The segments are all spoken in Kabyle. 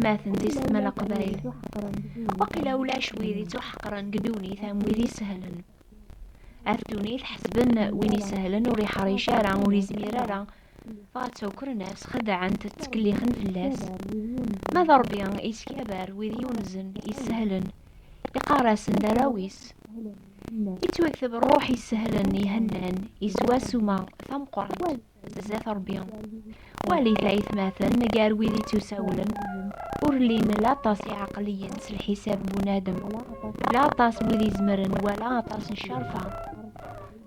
atmaten d isetman aqbayel waqila ulac wid ittuḥeqren deg ddunit am wid isehlen ar ddunit ḥesben win isehlen ur iḥṛic ara ur izmir ara Dɣa ttawkren-as, xeddɛen-t, ttkellixen fell-as. Ma d Ṛebbi yeskabar wid yunzen, yessehlen, iqqar-asen d arraw-is. Yettwakteb ṛṛuḥ yessehlen, ihennan, iswa ssuma tameqqrant zdat Ṛebbi. Walit aytmaten, gar wid ittusawlen, ur llin la aṭas iɛeqliyen s lḥisab n bunadem, la aṭas n wid izemren, wala aṭas n ccerfa.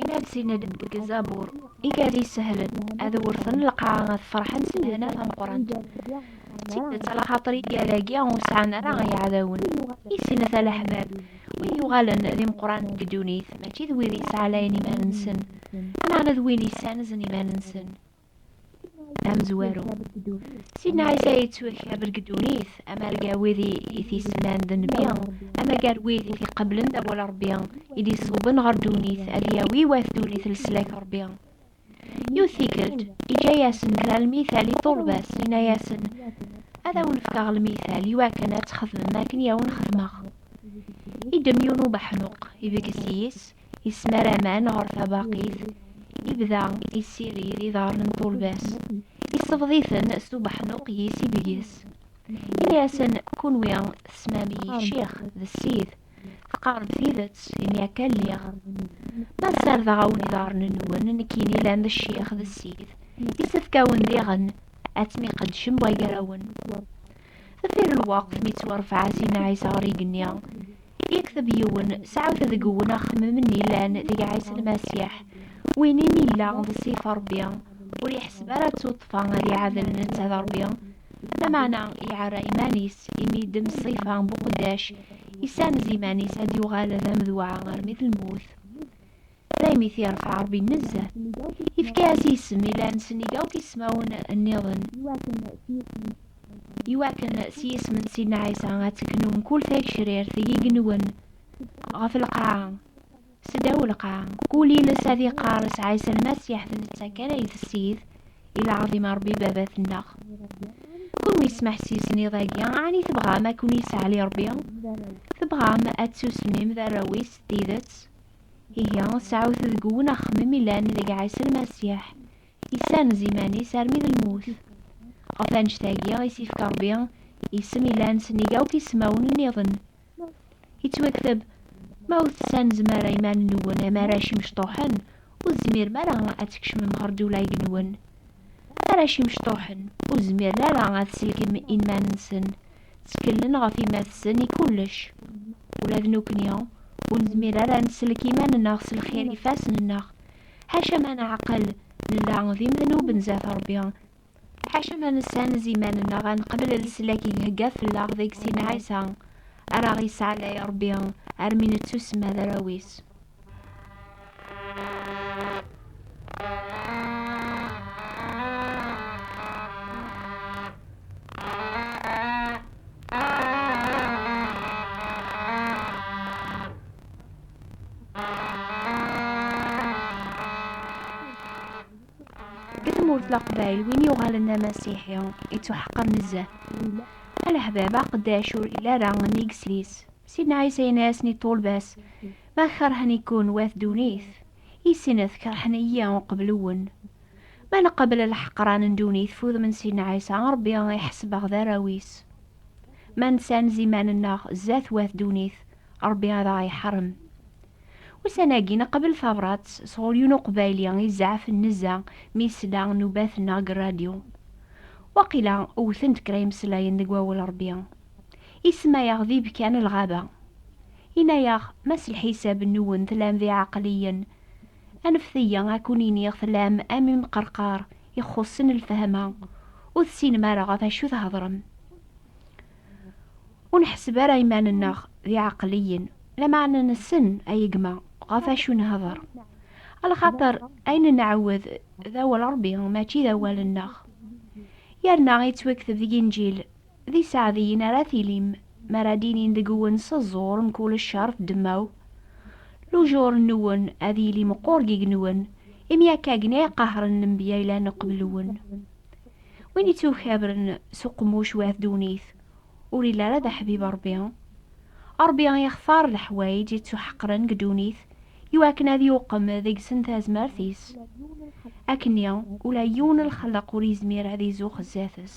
Imalsiyen-ed deg Zabur, i gar yisehlen, ad wurten lqaɛa ad ferḥen s lehna tameqqrant. D tidet, ala xaṭer igal-agi ur sɛan ara iɛdawen, i sin ata leḥbab, wid yuɣalen d imeqqranen deg ddunit, mačči d wid yettɛalayen iman-nsen, lameɛna d wid yessanzen iman-nsen. amezwaru sidna ɛisa yettwakrab deg ddunit amar gar wid i t-isemman d nnbi ama gar wid i t-iqeblen d awal rebbi i d-iṣewben ɣer ddunit ad yawi wat ddunit leslak rebbi yiwet tikkelt iǧǧa-yasen kra lmital i ṭṭulba-s yenna-yasen ad awen-fkeɣ lmital iwakken ad txedmem akken i awen-xedmeɣ idem yiwen ubeḥnuq ibges yes-s yesmar aman ɣer tabaqit, yebda yessirid iḍarren n turbas, yessebḍ-iten s ubeḥnuq yis i deg-s. Ini-asen, kunwi tesmam-iyi ccix d ssid, teqqarem tidet, imi akka lliɣ. Ma ssardeɣ-awen iḍarren-nwen, nekkini llan d ccix d ssid, yessefk-awen diɣen ad tmiqeddcem wagarawen. Di lweqt mi ttwarfeɛ Sina Ɛisa ɣer yigenni, yekteb yiwen, Sɛut deg-wen axemmem-n yellan deg Ɛisa Lmasiḥ, win imi yella d ssif n Ṛebbi, ur yeḥseb ara d tuṭṭfa ad iɛadel netta d Ṛebbi, lameɛna iɛerra iman-is, imi yeddem ṣṣifa n buqeddac, yessanez iman-is ad yuɣal d amedweɛ armi d lmut. daymi i t-yerfa Ṛebbi nezzeh, yefka-as isem i llan sennig akk ismawen nniḍen, iwakken s yisem n Sidna Ɛisa ad tegnu mkul tagecrirt i igenwen ɣef lqaɛa, seddaw lqaɛa, kul iles ad iqqar s Ɛisa Lmasiḥ d netta kan ay d Ssid, i lɛaḍima n Ṛebbi Baba-tneɣ. Kunwi tesmeḥsisem iḍ-agi, ɛni tebɣam ad ken-yesseɛli Ṛebbi? Tebɣam ad tsusmem d arraw-is s tidet? Ihi, sɛut deg wen axemmem ilan deg Ɛisa Lmasiḥ, yessanez iman-is armi d lmut. Ɣef wannect-agi i s-yefka Rebbi isem ilan sennig akk ismawen nniḍen. Yettwakteb, Ma ur tessanzem ara iman-nwen am arrac imecṭuḥen, ur tezmirem ara ad tkecmem ɣer ddewla-gnwen. Arrac imecṭuḥen, ur zmiren ara ad selken inman-nsen, Tteklen ɣef yemma-tsen i kullec. Ula d nekkni, ur nezmir ara ad nsellek iman-nneɣ s lxir n yifassen-nneɣ. Ḥaca ma neɛqel, nella d imednuben zdat Ṛebbi. Ḥaca ma nessanez iman-nneɣ ad neqbel leslak i ihegga fell-aɣ deg sin Ɛisa, ara aɣ-yesɛellay Ṛebbi armi nettusemma d arraw-is. leqbayel win yuɣalen d amasiḥi ittuḥeqqer nezzeh alaḥbab aqeddac ur yelli ara nnig sris Si Ɛisa in-as ni ṭulbas, Ma kerhen-ikun wat dunit, i sinet kerhen-iyi uqbel uwen. Ma nqebl lḥeqran n dunit f udem n Si Ɛisa, Rebbi iḥesb-aɣ d arraw-is. Ma nsanz iman-nneɣ zdat wat dunit, Rebbi ad aɣ-iḥarem. Ussan-agi nqebl tabrat sɣur yun uqbayli i zeɛfen nezza mi yesla nnubat-nneɣ g rradyu. Waqila wten-d kra imeslayen deg wawel Rebbi. Isemma-yaɣ d ibekka n lɣaba. Inna-yaɣ, Ma s lḥisab-nwen tlam d iɛeqliyen, anfet-iyi ad kkun-iniɣ tlam am imqerqar ixxuṣṣen lfehma, ur tessinem ara ɣef acu thedrem. Ur neḥseb ara iman-nneɣ d iɛeqliyen, lameɛna nessen a yegma ɣef acu nhedr. A lxaṭer ayen nɛawed d awal Ṛebbi mačči d awal-nneɣ. Yerna ittwakteb deg Inǧil. D iseɛdiyen ara tilim mi ara d-inin deg-wen s ẓẓur mkul ccer d ddemma-w. Lujur-nwen ad yili meqqur deg-nwen, imi akka gen ay qahren lenbiya yellan qbel-nwen. Win ittukabren s uqemmuc wat ddunit, ur yelli ara d aḥbib Ṛebbi. Ṛebbi ixtar leḥwayeǧ ittuḥeqren deg ddunit iwakken ad yuqem deg-sen tazmert-is. Akkenni, ula yiwen lxelleq ur yezmir ad izuxx zdat-s.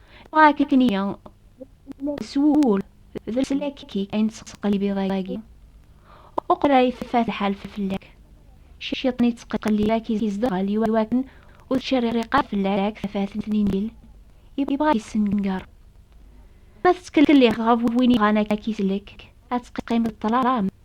Ɣakitniya, s wul, d leslak-ik ay nettqellib iḍ-agi. Uqbel ay teffat lḥal fell-ak, ciṭ n yettqellib ad k-izdeɣel iwakken ur tettcerriq ara fell-ak tafat n Injil, yebɣa ad k-yessenger. Ma tettkellixeḍ ɣef win yebɣan ad k-isellek, ad teqqimeḍ ṭṭlam.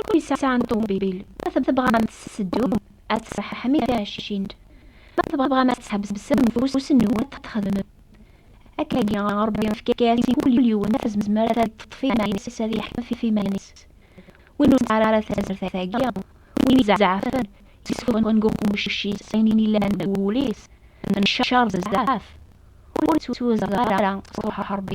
Ur yesɛan ṭubil, ma tebɣam ad teddum ad tṣeḥḥem i tɛeccin, ma tebɣam ad tḥebsem ufus-nwen ad t-txedmem. Akkagi, Ṛebbi ifka-as i kul yiwen tazmert ad d-teṭṭef iman-is, ad yeḥkem ɣef yiman-is. Win ur nesɛi ara tazmert-agi, win izeɛfen, yessufɣen deg uqemmuc-is ayen yellan deg wul-is n cceṛ bezzaf, ur ittwezdeɣ ara s Ṛuḥ Ṛebbi.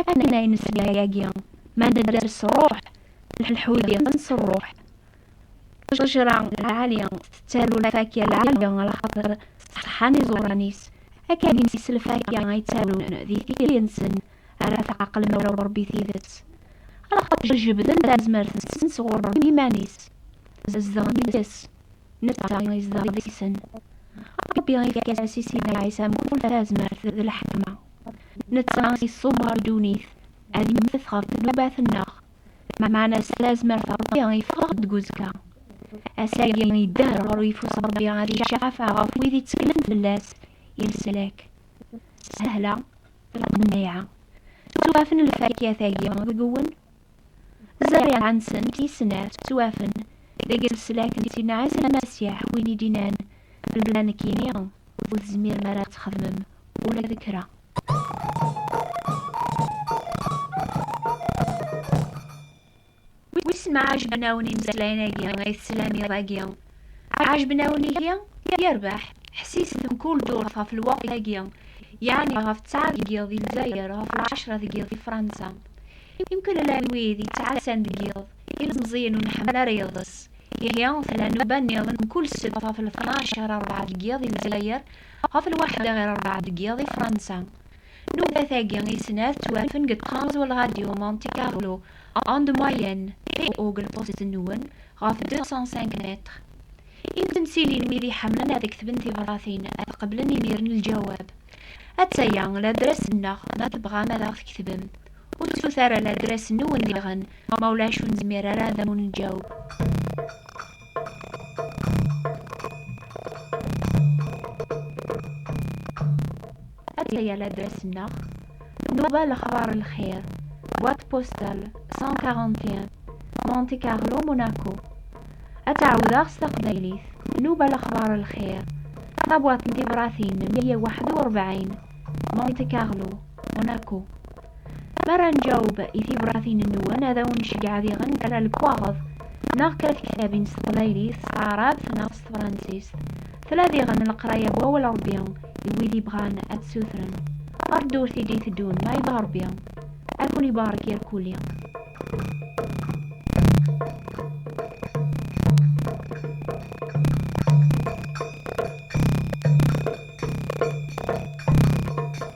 akken ay nesla yagi ma nedder s ṛṛuḥ lḥudi s ṛṛuḥ ṭejra lɛali tettaru lfakya lɛali ɣer xaṭer ṣeḥḥan iẓuran-is akken s lfakya ay ttarun di tikli-nsen ara tɛeqlem ɣer Ṛebbi tidet axaṭer jebden tazmert-nsen sɣur Ṛebbi iman-is zedɣen deg-s netta i izdeɣ deg-sen. Ṛebbi ifka-as i Sidna Ɛisa mkul tazmert d lḥekma. Netta iṣubber ddunit ad immet ɣef ddnubat-nneɣ, meɛna s tazmert Ṛebbi ifeɣ-ɣ-d deg uzekka. Ass-agi idder ɣer uyeffus Ṛebbi ad icafa ɣef wid itteklen fell-as i leslak. Sahla lqenneɛa. Ttuɣafen lfakya-tagi deg-wen? Zzarriɛa-nsent i snat ttwafen deg leslak n Sin Ɛisa Masiḥ, win i d-innan bellah nekkini ur tezmirem ara ad txedmem ula d kra. Wissen ma ɛejben-awen imeslayen-agi i teslam iḍ-agi? Ɛejben-awen-ihi, yerbeḥ, ḥsiset mkul ddurt ɣef lweqt-agi, yeɛni ɣef ttɛa deg yiḍ di Lezzayer, ɣef lɛecra deg yiḍ di Fransa. Imkul llan wid yettɛassan deg yiḍ, ilemẓiyen ur nḥemmel ara iḍes. Ihi, tella nnuba nniḍen mkul ssebt ɣef lṭnac ɣir rebɛa deg yiḍ di Lezzayer, ɣef lwaḥda ɣir rebɛa deg yiḍ di Fransa. Nubat-agi i snat ttwafen deg Trans World Radio Monte Carlo, onde moyenne, TOGL post-nwen, ɣef 205 mètres. I temsilin wid iḥemmlen ad ktben tibṛatin ad qeblen imiren lǧawab. Atta-ya ladras-nneɣ ma tebɣam ad aɣ-tketvem. Ur ttut ara ladras-nwen diɣen ma ulac ur nezmir ara ad awen-nǧaweb. Ataya ladras-nneɣ, Nuba lexbar n lxir, boîte postale 141, Monte Carlo, Monaco. Ad t-ɛawdeɣ s taqbaylit, Nuba lexbar n lxir, tabwaḍt n tibṛatin 141, Monte Carlo, Monaco. Mi ara nǧaweb i tibṛatin-nwen, ad awen-nceggeɛ ad iɣen kra n lekwaɣeḍ neɣ kra n tektabin s teqbaylit, s taɛrabt neɣ s tefṛensist. Tella diɣen leqraya n wawal Ṛebbi i wid yebɣan ad t-sutren. Ɣer ddurt i d-iteddun ma yebɣa Ṛebbi, ad ken-ibarek irkuli.